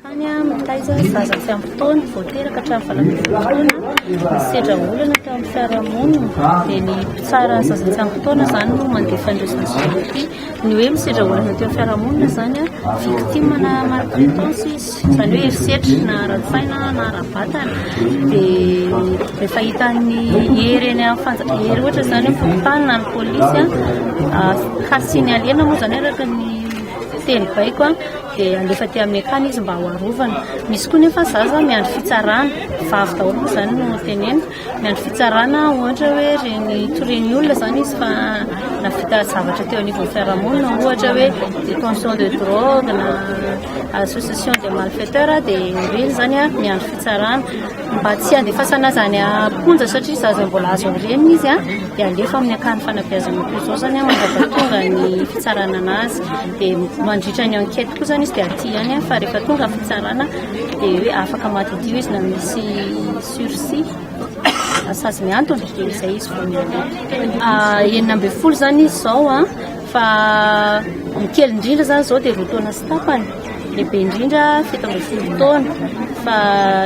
Tany amin'ny taiza ny zaza tsy ampy taona vao teraka hatramin'ny valo ambin'ny folo taona misedra olana teo amin'ny fiarahamonina dia ny mpitsara ny zaza tsy ampy taona izany no mandefa an'ireo zaza satria ny hoe misedra olana teo amin'ny fiarahamonina izany a victime na maltraitance izy izany hoe herisetra na ara-tsaina na ara-batana dia rehefa hitan'ny hery eny amin'ny fanja hery ohatra izany ny fokontany na ny polisy a ah, hasin'ny alena moa izany araka ny teny baiko dia alefa aty amin'ny akany izy mba ho arovana. Misy koa nefa zaza miandry fitsarana, vavy daholo moa izany no teneniko, miandry fitsarana ohatra hoe reny torian'ny olona izany izy fa navita zavatra teo anivon'ny fiarahamonina ohatra hoe détention de drogue na association de malfaiteurs dia ireny izany miandry fitsarana. Mba tsy handefasana azy any am-ponja satria izaho izay mbola azo aorian'ny izy dia alefa amin'ny akany fanabeazana koa izao izany mandava tonga ny fitsarana an'azy dia mandritra ny enquête koa izany izy dia aty ihany fa rehefa tonga ny fitsarana dia hoe afaka madidio izy na misy sursis asazy miantona dia izay izy vao miantona ah, enina ambin'ny folo izany izy izao an fa ny kely indrindra izany izao dia roa taona sy tapany lehibe indrindra fito ambin'ny folo taona fa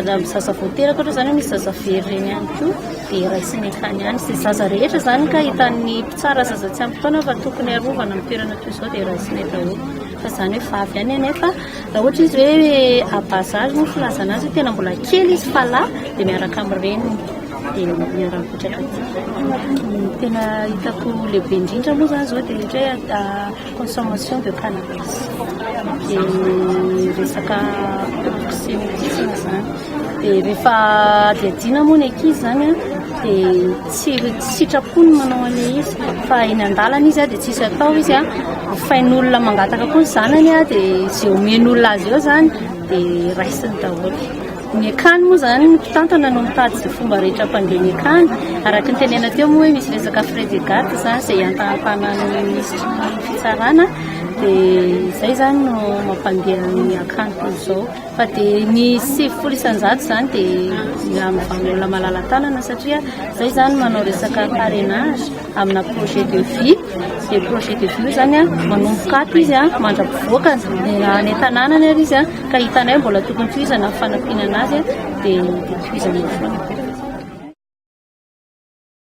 raha ny zaza vao teraka ohatra izany misy zaza very ireny ihany koa dia raisiny akany ihany sy zaza rehetra izany ka hitan'ny mpitsara zaza tsy ampy taona fa tokony arovana amin'ny toerana toy izao dia raisiny daholo fa izany hoe vavy ihany anefa raha ohatra izy hoe abazary no filazana azy tena mbola kely izy fa lahy dia miaraka amin'ny reniny dia miaraka mipetraka tena hitako lehibe indrindra moa izany izao dia ohatra hoe Consommation de cannabis dia ny resaka oxymodicine izany dia rehefa adihadiana moa ny ankizy izany a dia tsy tsy sitrapo ny manao an'ilay izy fa eny an-dalana izy a dia tsisy atao izy a ofain'olona mangataka koa ny zanany a dia izay omen'olona azy eo izany dia raisiny daholo. Ny akany moa izany ny mpitantana no mitady izay fomba rehetra hampandre ny akany. Araka ny tenenina teo moa hoe misy resaka frais de garde izany izay ihantahantanan'ny minisitry ny fitsarana dia izay izany no mampandeha ny akany toy izao. Fa dia ny sivifolo isan-jato izany dia mila amin'ny vahaolona malala-tanana satria izay izany manao resaka parrainage. amina projet de vie dia projet de vie zany an manomboka ato izy an mandrapivoaka any an-tanànany ary izy an ka hitanay mbola tokony tohizana ny fanampianana azy dia tohizana foana.